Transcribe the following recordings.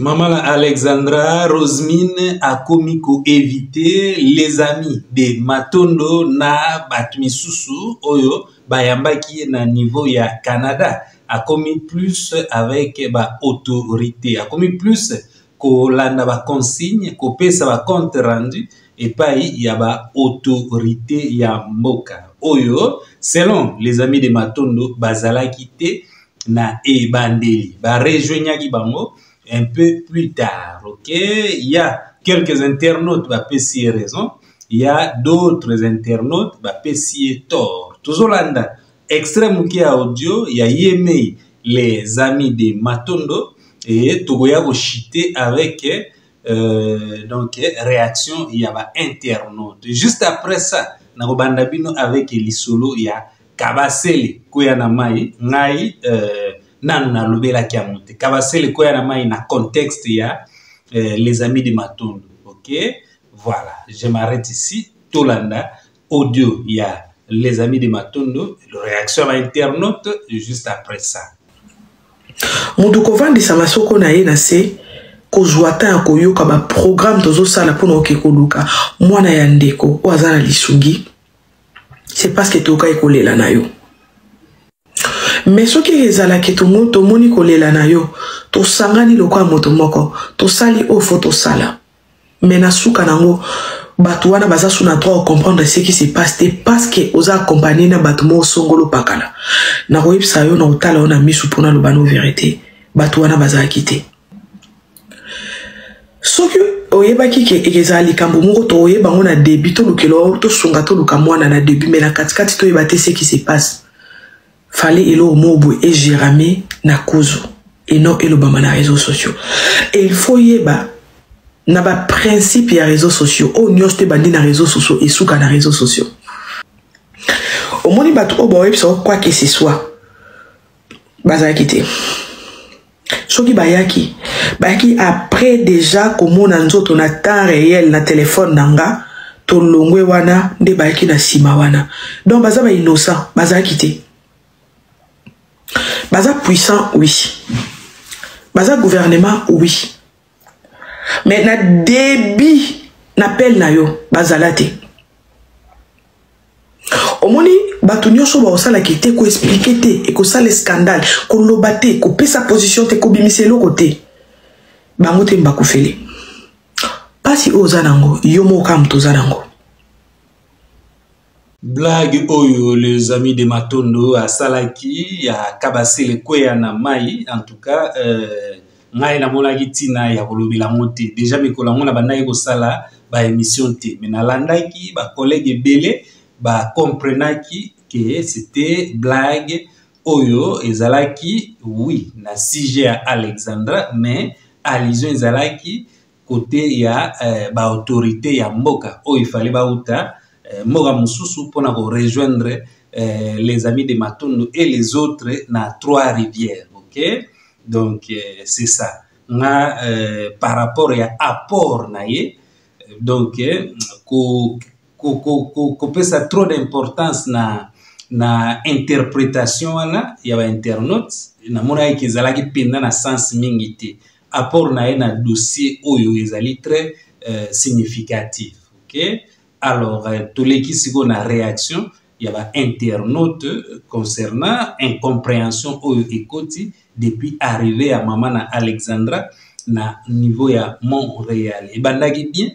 Maman la Alexandra Rosemine akomi ko éviter les amis de Matondo na bato misusu oyo bayambaki ye na niveau ya Canada akomi plus avec ba autorité akomi plus kolanda ba consigne kopesa ba compte rendu epai ya ba autorité ya mboka oyo selon les amis de Matondo bazalaki te na ebandeli ba rejoignaki bango un peu plus tard ok il y a quelques internautes ba pesi raison il y a d'autres internautes ba pesi tort tozolanda extrait moke ya audio ya yemei les amis de matondo et tokoya kochite avec euh, donc réaction ya ba internaute juste après ça nakobanda bino avec lisolo ya kabasele koya na mai ngai euh, nanu nalobelaki yango te kabasele koya na mai na contexte ya euh, les amis de matondo ok voilà je m'arrête ici tolanda audio ya les amis de matondo réaction ya internaute juste après ça moto kovandisa masoko na ye na se kozwa ta ya koyoka baprograme tozosala mpo na oke koluka mwana ya ndeko oyo aza na lisungi c'est parce que tokaki kolela na yo me soki ezalaki tongo tomoni kolela na yo tosangani lokola moto moko tosali oyo fo tosala me na suka nango bato wana baza su na droit ocomprendre ce qui se passe te parce que oza accompagne na bato moko songolo pakala nakoyebisa yo na kotala yo na miso mpona loba no verité bato wana bazalaki te soki oyebaki ke ekezala likambo moko toyeba yango na debut tolukela o tosunga toluka mwana na debut mai na katikati toyeba te seki se passe fale eloko moko boye egerame na kuzu et non elobama na réseau sociaux et il faut yeba na baprincipe ya réseau sociaux oyo nyonso te ebandi na réseau sociaux esuka na réseau sociaux omoni bato oyo baoyebisa o quoi que ce soit bazalaki te soki bayaki bayaki après déjà komona nzoto na temps réel na telefone na nga tolongwe wana nde bayaki na nsima wana donc baza ba innocent bazalaki te baza puissant oui baza gouvernement oui mais na début na pele na yo bazala te omoni bato nyonso bakosala ke te koexplike te ekosala scandale koloba te kopesa position te kobimisa eloko te bango te mbakufeli mpasi oyo oza nango yo moko kaka moto oza nango Blague oyo les amis de Matondo asalaki ya Kabasele kweya na mai en tout cas euh, ngai namonaki ntina ya kolobela yango te deja mikolo yango nabandaki kosala baémission te me nalandaki bacollègue ebele bacomprenaki ke c'était blague oyo ezalaki oui na sujet ya alexandra mais allusion ezalaki kote ya eh, baautorité ya mboka oyo ifale bauta eh, mboka mosusu mpo na korejoindre eh, les amis de matondo et les autres na trois rivières ok donc eh, c'est ça nga eh, par rapport ya apport na ye donc eh, ko, ko, ko, ko, kopesa trop d'importance na na interpretation wana ya bainternaute namonaki ezalaki mpenza na sens mingi te apport na ye na dossier oyo ezali très euh, significatif okay? alors euh, toleki sikoyo na réaction ya ba internaute concernant incomprehension oyo ekoti depuis arrivé ya mama na alexandra na niveau ya montréal ebandaki bien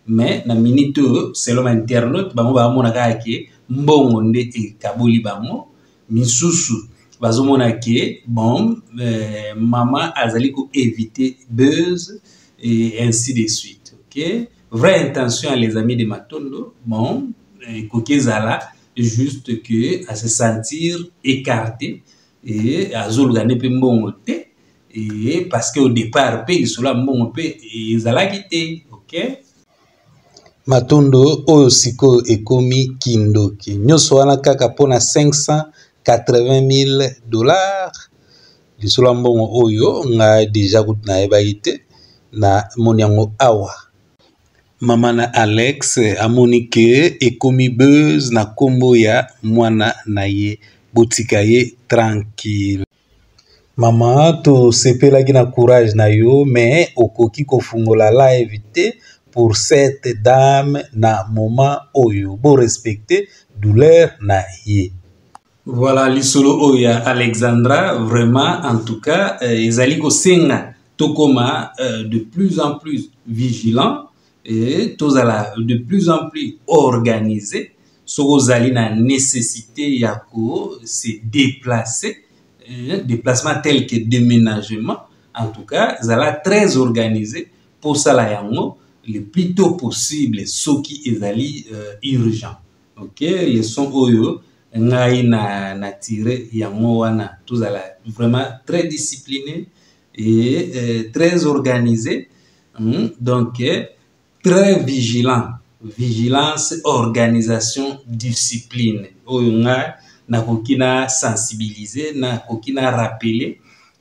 mais na minute oyo selon ba internaute bango baamonaka yake mbongo nde ekaboli bango misusu bazomona ke bon euh, mama azali ko éviter buzz et ainsi de suite ok vraie intention ya les amis de matondo bon ekoki euh, ezala juste que à se sentir écarté et azoluka nde mpe mbongo te et parce que au départ mpe lisolo ya mbongo mpe ezalaki te ok matondo oyo sikoyo ekomi kindoki nyonso wana kaka mpona 580000 dollars lisolo ya mbongo oyo ngai deja kutu nayebaki te na moni yango awa mama na alex amoni ke ekomi buzz na nkombo ya mwana na ye botika ye tranquille Maman tosepelaki na courage na yo mais okoki kofungola live te pour cette dame na moment oyo bo respecter douleur na ye. Voilà lisolo oyo ya Alexandra vraiment en tout cas euh, ezali kosenga tokoma euh, de plus en plus vigilant et tozala de plus en plus organisé soki ozali na nécessité ya ko se déplacer eh, déplacement tel que déménagement en tout cas zala très organisé mpo osala yango le plus tôt possible soki ezali euh, urgent ok leson oyo ngai na, na tire yango wana tozala vraiment très discipliné et euh, très organisé hmm, donc euh, très vigilant vigilance organisation discipline oyo ngai nakoki na sensibiliser nakoki na rappeler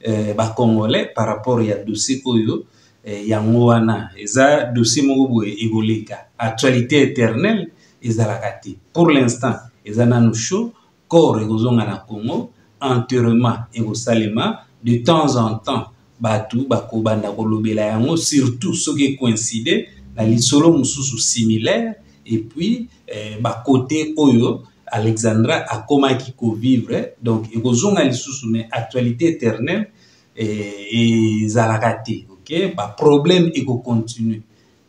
euh, bacongolais par rapport ya dossier oyo eh, yango wana eza dossier moko boye ekoleka actualité éternelle ezalaka te pour l'instant eza nanu chaud corps ekozonga na congo enterrement ekosalema de temps en temps bato bakobanda kolobela yango surtout soki ecoincide na lisolo mosusu similaire epuis eh, bakote oyo alexandra akomaki kovivre donc ekozonga lisusu mais actualité éternelle eh, ezalaka te ok baproblème ekocontinue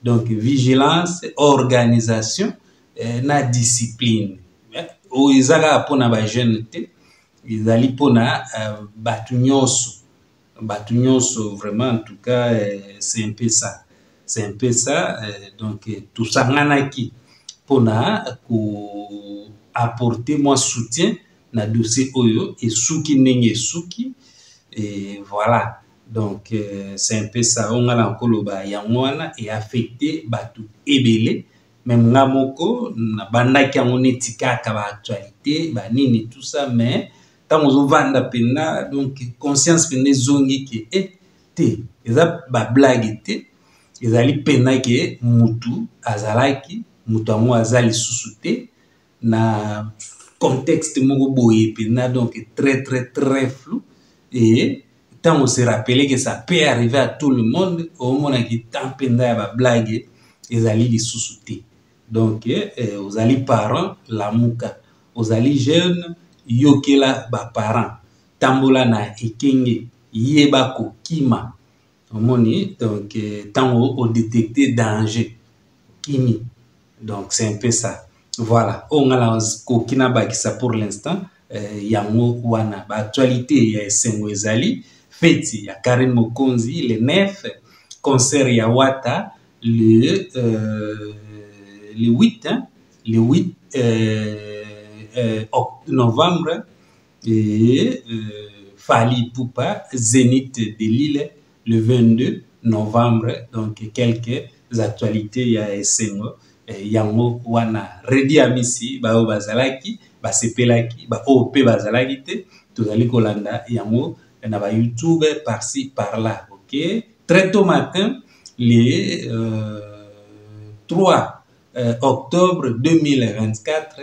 donc vigilance organisation eh, na discipline eh, oyo oh, eza kaka mpona bajeune te ezali mpona uh, bato nyonso bato nyonso vraiment en tout cas eh, c'est un peu ça c'est un peu ça eh, donc eh, tosanganaki mpona ko apporter mwa soutien na dossier oyo esuki ndenge esuki et voilà donc euh, c'est un peu ça oyo ngai nakoloba yango wana eaffecte bato ebele meme nga moko nabandaki yango neti kaka ba actualité ba nini tout ça mais ntango ozovanda mpenza donc conscience mpenza ezongi ke e eh, te eza bablage te ezali mpenza ke mutu azalaki moto yango aza lisusu te na contexte moko boye mpenza donc très très très flou et ntango se rappeler que ça peut arriver à tout le monde omonaki temps mpenza ya bablague ezali lisusu te donc eh, ozali parent lamuka ozali jeune yokela baparent tambola na ekenge yeba kokima omoni donc ntango euh, odetecte danger okimi donc c'est un peu ça voilà oyo ngai nakoki nabakisa pour l'instant euh, yango wana baactualité ya esengo ezali feti ya karine mokonzi le 9 concert ya wata le, euh, le 8 hein, le 8 euh, euh, novembre Et euh, Fali Poupa, Zénith de Lille, le 22 novembre, donc quelques actualités ya esengo eh, yango wana Redi Amisi baoyo bazalaki basepelaki baoyo mpe bazalaki te tozali kolanda yango na ba YouTube par ci par là ok très tôt matin le euh, 3 euh, octobre 2024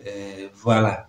euh, voilà